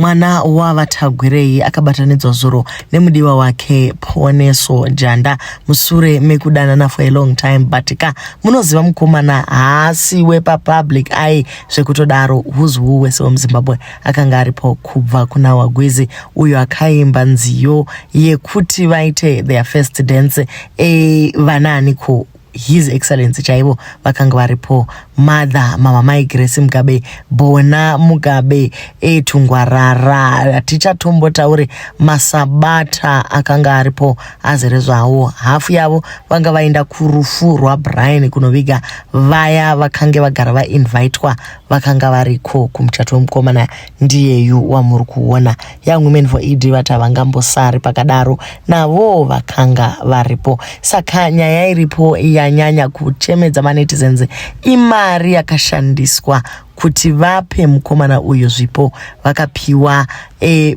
Mwana waVaTagwirei akabatanidzwa zuro nemudiwa wake Poneso Janda musure mekudanana for a long time but ka munoziva mukomana haasi wepapublic ai zvekutodaro who's who wese wemuZimbabwe akanga aripo kubva kuna Wagwizi uyo akaimba nziyo yekuti vaite their first dance e, vanaaniko his excellency chaivo vakanga varipo mother mama mai grace mugabe bona mugabe etungwarara eh, tichatombotaure masabata akanga aripo azere zvawo hafu yavo vanga vaenda kurufu rwabrian kunoviga vaya vakange vagara vainvitwa vakanga variko kumuchato wemukomana ndiyeyu wamuri kuona young women for ed vati havangambosari pakadaro navoo vakanga varipo saka nyaya iripo yanyanya kuchemedza manetizens imari yakashandiswa kuti vape mukomana uyu zvipo vakapiwa e,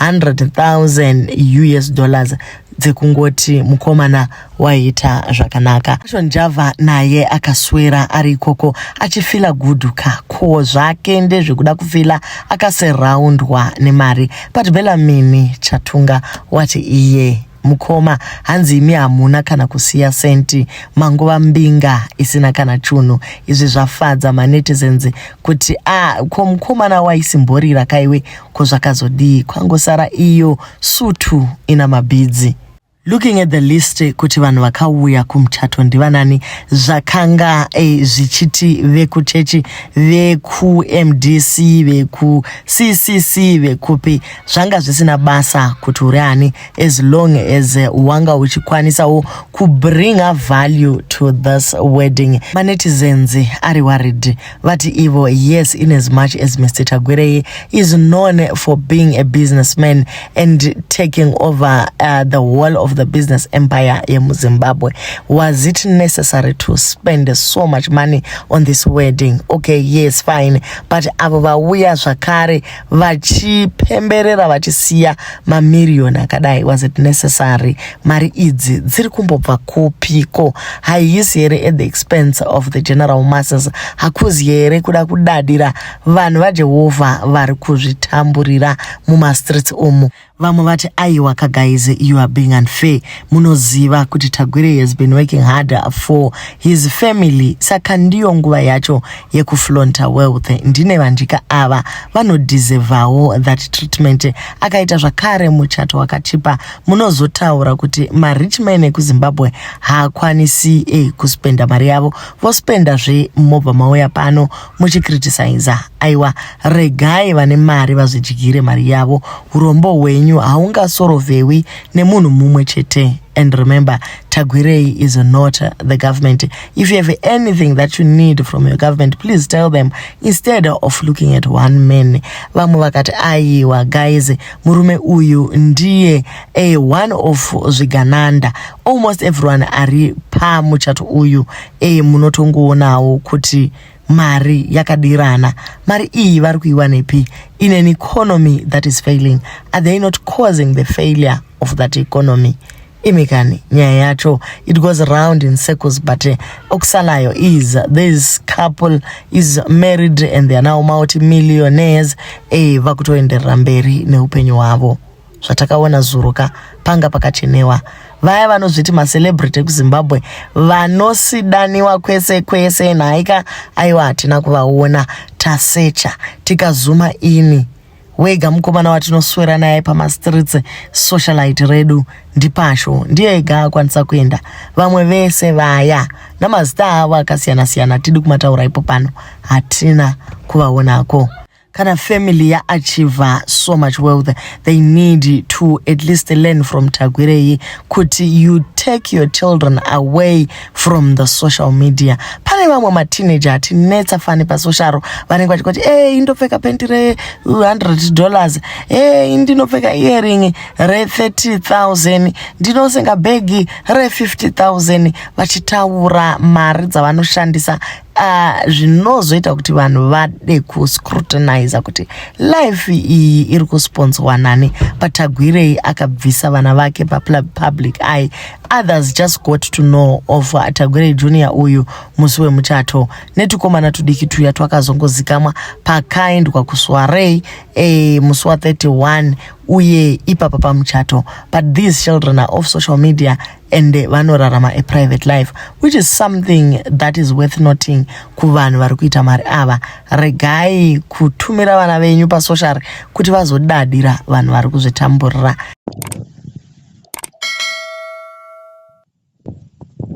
100,000 us dollars dzekungoti mukomana waiita zvakanaka zvacho njava naye akaswera ari ikoko achifila guduka ko zvake ndezvekuda kufila akaserraundwa nemari but belamini chatunga wati iye Mukoma hanzi imi hamuna kana kusiya senti mangova mbinga isina kana chunhu izvi zvafadza manetizens kuti a ko mukomana waisimborira kaiwe ko zvakazodii kwangosara iyo sutu ina mabhidzi looking at the list kuti vanhu vakauya kumuchato ndivanani zvakanga eh, zvichiti vekuchechi vekumdc vekuccc vekupi zvanga zvisina basa kuti uri ani as long as eh, wanga uchikwanisawo kubringa value to this wedding manetizens ari worried vati ivo yes in as much as mr tagwirei is known for being a businessman and taking over uh, the whole of the business empire yemuzimbabwe was it necessary to spend so much money on this wedding okay yes fine but avo vauya zvakare vachipemberera vachisiya mamiriyoni akadai was it necessary mari idzi dziri kumbobva kupiko haisi here at the expense of the general masses hakuzi here kuda kudadira vanhu vajehovha vari kuzvitamburira mumastreets umu Vamwe vati aiwa ka guys you are being unfair munoziva kuti Tagwere has been working harder for his family saka ndiyo nguva yacho yekuflonta wealth ndine vandika ava vanodeservawo that treatment akaita zvakare muchato wakachipa munozotaura kuti marich man ekuzimbabwe haakwanisi eh, kuspenda mari yavo vospenda zve mobva mauya pano muchikritisaiza aiwa regai vane mari vazvidyire mari yavo urombo hwenyu haungasorovewi nemunhu mumwe chete and remember tagwirei is not the government if you have anything that you need from your government please tell them instead of looking at one man vamwe vakati aiwa guys murume uyu ndiye a one of zvigananda almost everyone ari pamuchato uyu eye munotongoonawo kuti mari yakadirana mari iyi vari kuiwanepi in an economy that is failing are they not causing the failure of that economy imi kani nyaya yacho it goes round in circles but eh, okusalayo is this couple is married and they are now multimillionaires e eh, vakutoenderera mberi neupenyu hwavo zvatakaona zuro ka panga pakachenewa vaya vanozviti macelebrity ekuzimbabwe vanosidaniwa kwese kwese nhaika aiwa hatina kuvaona tasecha tikazuma ini wega mukomana watinoswera naye pamastreets socialite redu ndipasho ndiye ega akwanisa kuenda vamwe vese vaya namazita avo akasiyana-siyana tidi kumataura ipo pano hatina kuvaonako kana family yaachiva so much wealth they need to at least learn from tagwirei kuti you take your children away from the social media pane vamwe mateenager atinetsa fani pasosharo vanenge vachikoti e eh, indopfeka penti re 100 dollars e eh, indinopfeka earing re 30000 ndinosenga bhegi re 50000 vachitaura mari dzavanoshandisa Uh, zvinozoita kuti vanhu vade kuscrutiniza kuti life iyi iri kusponswa nani patagwirei akabvisa vana vake papublic eye others just got to know of uh, tagwirei junior uyu musi wemuchato netukomana tudiki tuya twakazongozikamwa pakaendwa kuswarei e, musi wa 31 uye ipapa pamuchato but these children are off social media and vanorarama a private life which is something that is worth noting kuvanhu vari kuita mari ava regai kutumira vana venyu pasocial kuti vazodadira vanhu vari kuzvitamburira